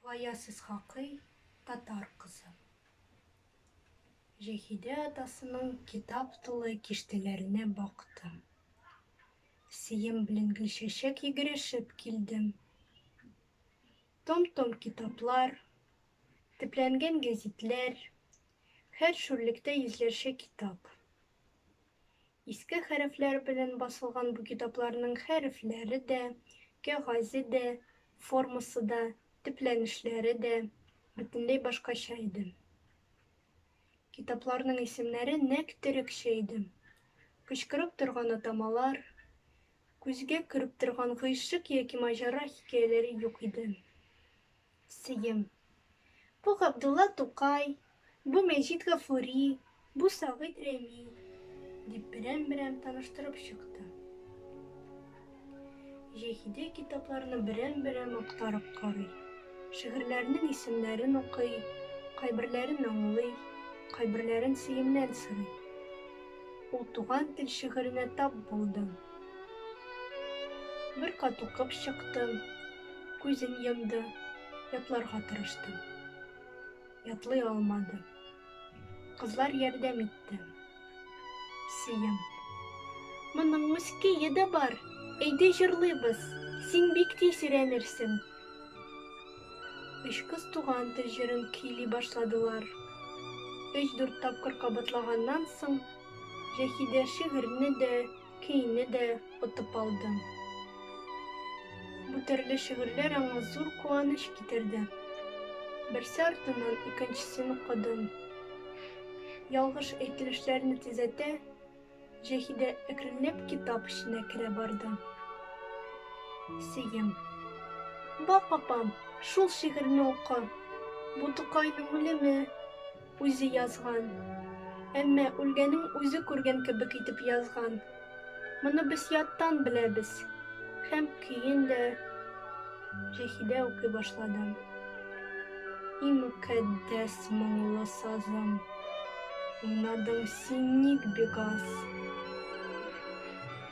Кая сез хакый татар кызы? Җәһидә атасының китап тулы киштәләренә бактым. Сием белән гөлчәчәк йөгерешеп килдем. Том-том китаплар, төпләнгән гәзитләр, һәр шүрлектә йөзләрчә китап. Иске хәрефләр белән басылган бу китапларның хәрефләре дә, кәгазе дә, формасы да, төпләнешләре дә бөтенләй башкача иде. Китапларның исемнәре нәкъ төрекчә иде. Кычкырып торган атамалар, күзгә көреп торган гыйшык яки маҗара хикәяләре юк иде. Сыем. Бу Габдулла Тукай, бу Мәҗит Гафури, бу Сагыйт Рәми, дип берәм-берәм таныштырып чыкты. Җәһидә китапларны берәм-берәм актарып карый, шигырьләрнең исемнәрен укый, кайберләрен аңлый, кайберләрен Сыемнән сорый. Ул Туган тел шигыренә тап булды. Бер кат укып чыктым. күзен йомды, ятларга тырышты. Ятлый алмады. Кызлар ярдәм итте. Сием. Моның мускее дә бар. Әйдә җырлыйбыз. Син бик тиз өйрәнерсең. Өч кыз туган тел җырын көйли башладылар. Өч-дүрт тапкыр кабатлаганнан соң, Җәһидә шигырьне дә, Көйне дә отып алдым. Бу төрле шигырьләр аңа зур куаныч китерде. Берсе артыннан икенчесен укыдым. Ялгыш әйтелешләрне төзәтә, Җәһидә әкренләп китап эченә керә барды. Сеем. Бак, апам, шул шигырьне ука. Бу Тукайның үлеме. Үзе язган. Әмма үлгәнен үзе күргән кебек итеп язган. Моны без яттан беләбез. Һәм көен дә Җәһидә укый башлады. И мөкатдәс моңлы сазым, уйнадың син ник бик аз.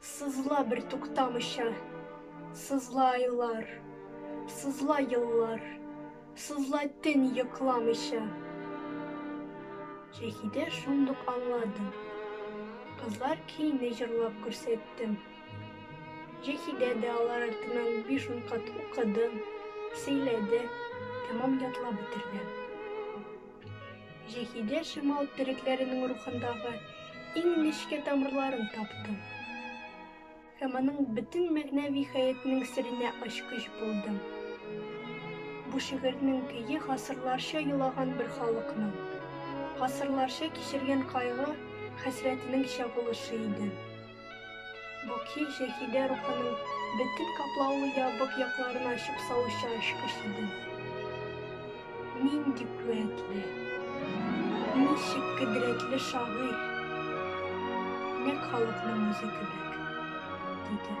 Сызла бертуктамыйча, сызла айлар, Сызла еллар, сызла төн йокламыйча. Шәһидә шундук аңлады. Кызлар көйне җырлап күрсәтте. Җәһидә дә алар артыннан биш-ун кат укыды, сөйләде, тәмам ятлап бетерде. Җәһидә шимал төрекләренең рухындагы иң нечкә тамырларын таптым һәм аның бөтен мәгънәви хәятнең серенә ачкыч булдым. Бу шигырьнең көе гасырларча елаган бер халыкның, гасырларча кичергән кайгы, хәсрәтенең чагылышы иде. Бу көй Шәһидә рухының бөтен каплаулы ябык якларын ачып салучы ачкыч иде. Нинди куәтле, ничек кодрәтле шагыйрь! Нәкъ халыкның үзе кебек, диде.